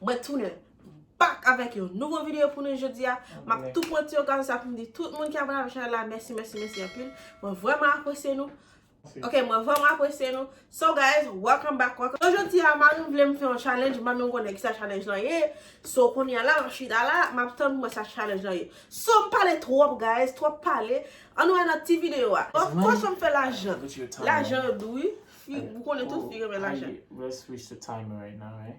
Mwen tounen back avèk yon nouvo video pou nou jodi a. M ap tou pran ti okazyon sa pou m di tout moun ki abone avèk chanèl la mèsi mèsi mèsi anpil. Mwen vrèman apresye nou. Ok mwen vrèman apresye nou. So guys, welcome back welcome back. So jodi a mari m vle m fè yon challenge, m pa menm konnen kisa challenge lan ye. So kounye a la m ap chita la, m ap tann pou m wè sa challenge lan ye. So m pale twòp guys, twòp pale. An nou al nan ti video a. Bon, ki fason m fè lajan? Lajan yo dou wi. Fi, ou konnen tout fi renmen lajan. Let's switch the timer right now right.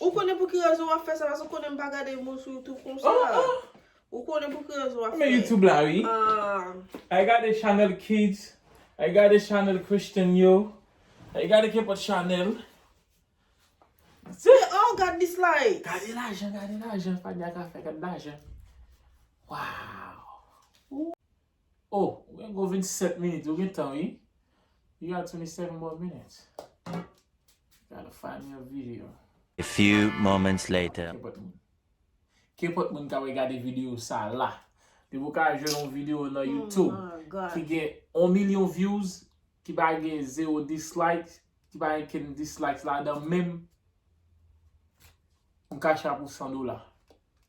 Ou konnen pou ki rezon wap fè sa paske ou konnen m pa gade moun sou youtube konsa oh oh Ou konnen pou ki rezon wap fè Mwen youtube la wi ah Ay gade chanèl kids Ay gade chanèl christian yo Ay gade kenpòt chanèl Tiye oh gad dislike Gade lajan gade lajan Fania ka fè gad lajan Waww. Oh ou gen gwo 27 minit ou gen tan wi you got 27 more minutes gotta find me a video. A few moments later. Kenpòt moun. Kenpòt moun ka wè gade video sa la. Depi ou ka jwenn yon video nan YouTube ki gen 1 milyon views ki pa gen 0 dislike, ki pa gen kenn dislikes ladan menm. Pou cash app ou 100 dola.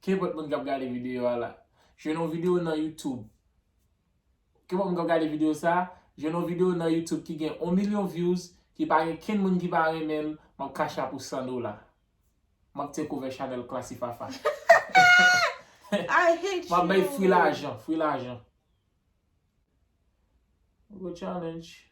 Kenpòt moun kap gade video a la. Jwenn yon video nan youtube. Kenpòt moun kap gade video sa. Jwenn yon video nan youtube ki gen 1 milyon views. Ki pa gen kenn moun ki pa renmen l. Map cash app ou 100 dola. Map take over chanèl Classifafa. Map bay free lajan. Free lajan. Nouvo challenge.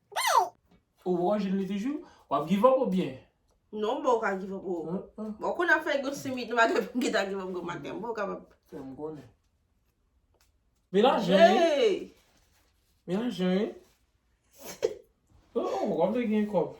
Ou poko jwenn li toujou? Wap give up ou byen? Non m poko ka give up oo. Bon ou konn ap fè yon simit nou pa gen pou m gentan give up gwo maten. M poko kapab. Fè m konnen. Melanje wi. Hey! Melanje wi. Ou wap vle gen kòb.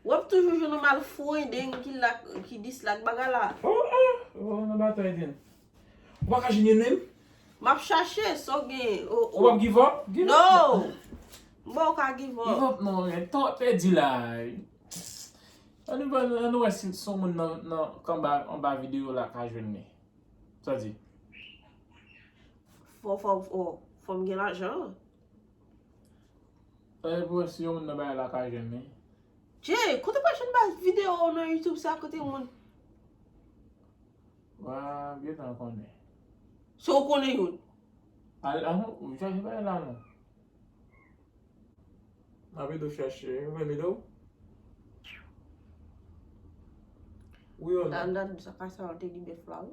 Wap toujou jwenn yon mal fwendeng ki lak ki dislak bagay la. Oh oh oh nan batay vin. Ou pa ka jwenn youn menm? Map chache, sa w gen oh oh. Ou pap give up? Give up non. No! M pa w ka give up. Give up non, gen tan wap pèdi la. An nou ba an nou wè si si yon moun nan nan kanba anba video la ka jwenn li. Sa w di? Fò fò fò m gen lajan. Sa se pou wè si yon moun nan bagay la ka jwenn li. Jay, kote wap jwenn baz video ou nan YouTube sa kote moun. Wa gentan konnen. So ou konnen youn. Al an ou chache bagay la non. Map ede w chache. Ou vle m ede w? Wi ou non. Nan nan sa pa sa yo te li bèf la wi.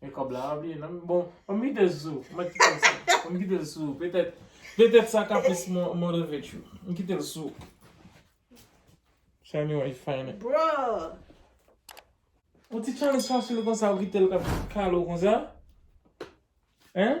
Men kob la a byen nan. Bon, an m kite l sou ou. Mwen kite l sou ou. An m kite l sou ou. Petèt, petèt sa ka plis motive tchou. M kite l sou ou. Try me while you find it. Bruh! Yon ti challenge fasil konsa ou kite l kap kale w konsa? Hein?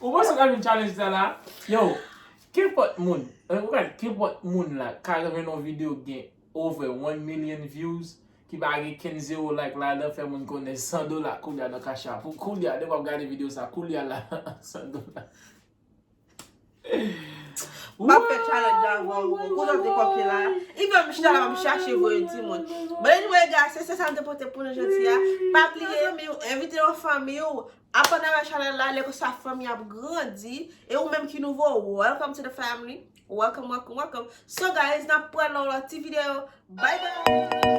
Ou panse ou ka jwenn challenge sa la? Yo, kenpòt moun, ou ka di kenpòt moun la ka jwenn yon video ki gen over one million views ki pa gen kenn zero like ladan fè moun konnen 100 dola koulya nan cash app ou koulya depi wap gade video sa koulya la 100 dola. Map fè challenge la avèw wi boo. Kote w te kopye la? Even m chita la map chache voye timoun. Bon anyway guys se sèl sa m te pote pou nou jodi a. Pa bliye zanmi w, envite yon fanmi w, aprann avè chanèl la lè konsa fanmi ap grandi e ou menm ki nouvo welcome to the family welcome welcome welcome so guys nap pran nan yon lòt ti video bye bye.